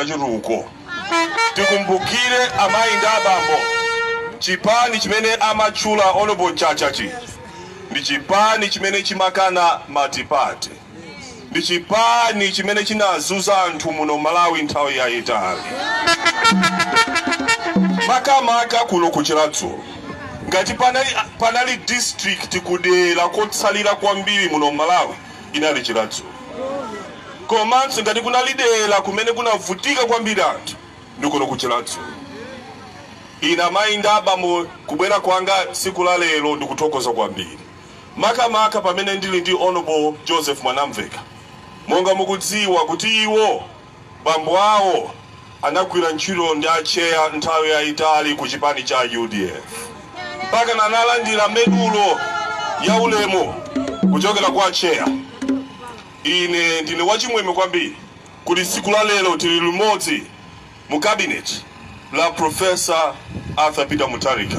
chitukuko tikumbukire amayi ndi abambo chipani chimene amatchula honorable Mchacha chi ndi chipani chimene chimakana matipate ndi chipani chimene chinazunza anthu muno malawi nthawi yayitali makamaka kuno ku Chiradzulu ngati panali, panali district kudera kotsalira kwambiri muno malawi inali Chiradzulu. Komanso ngati kunali dera kumene kunavutika kwambiri anthu ndi kuno ku Chiradzulu. Ine amayi ndi abambo kubwera kwanga tsiku la lero ndikuthokoza kwambiri makamaka pamene ndili ndi Hon. Joseph Mwanamvekha monga mukudziwa kuti iwo Bambo awo anagwira ntchito ndi a Tcheya nthawi yaitali ku chipani cha udf mpakana analandira medulo ya ulemu kuchokera kwa Tcheya. Ine ndine wachimwemwe kwambiri kuti tsiku la lero tili limodzi mu cabinet la Professor Arthur Peter Mutharika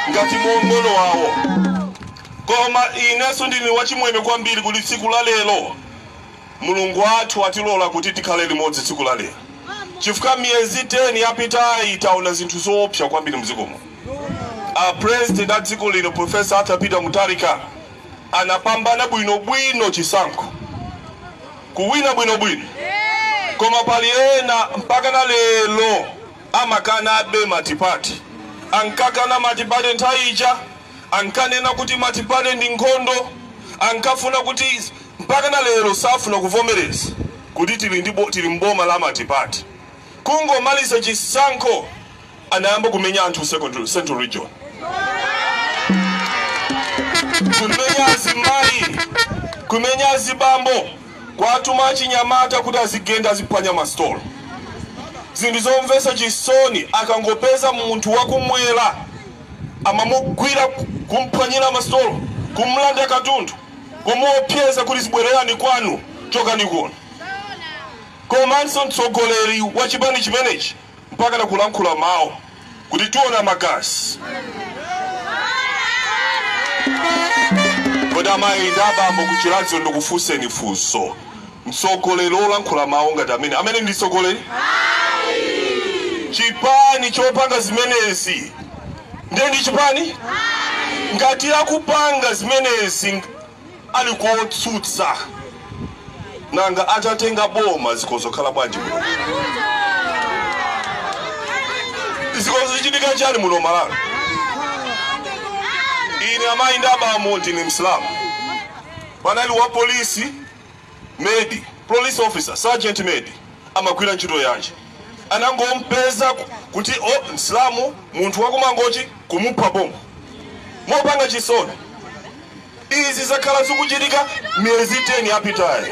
ngati mng'ono wawo. Koma inenso ndine wachimwemwe kwambiri kuti tsiku la lero Mulungu wathu watilola kuti tikhale limodzi tsiku la lero chifukwa miyezi 10 yapitayi taona zinthu zoopsa kwambiri mdziko muno. A president a dziko lino Professor Arthur Peter Mutharika anapambana bwinobwino chisankho, kuwina bwinobwino koma pali ena mpakana lero amakanabe matipate. Ankakana matipate nthawi ija, ankanena kuti matipate ndi nkhondo, ankafuna kuti Mpakana lero safuna kuvomereza kuti tili ndi tili m'boma la matipate. Kungomaliza chisankho anayamba kumenya anthu ku central region. Kumenya azimayi, kumenya azibambo, kuwatuma achinyamata kuti azigenda aziphwanya ma stolo. Zinthu zomvetsa chisoni akangopeza munthu wa kumwera amamugwira kumphwanyira ma stolo, kumulanda katundu. kumuopseza kuti zibwererani kwanu chokani kuno komanso mtsogoleri wa chipani chimenechi mpakana kulankhula mau kuti tiona magazi kodi amayi ndi abambo ku Chiradzulu ndikufunseni funso mtsogoleri wolankhula mau ngati amene amene ndi mtsogoleri chipani chopanga zimenezi ndiye ndi chipani ngati akupanga zimenezi ng- ali kotsutsa nanga atatenga boma zikudzakhala bwanji muno zikudzachitika chani muno malawi ine amayi ndi abambo ndine msilamu panali wa polisi Medi, Police Officer, Sergeant Medi, amagwira ntchito yanji? Anangompeza kuti oh, Msilamu munthu wakumangochi kumupha pompo mopanga chisoni. Izi zakhala zikuchitika miyezi 10 yapitayi.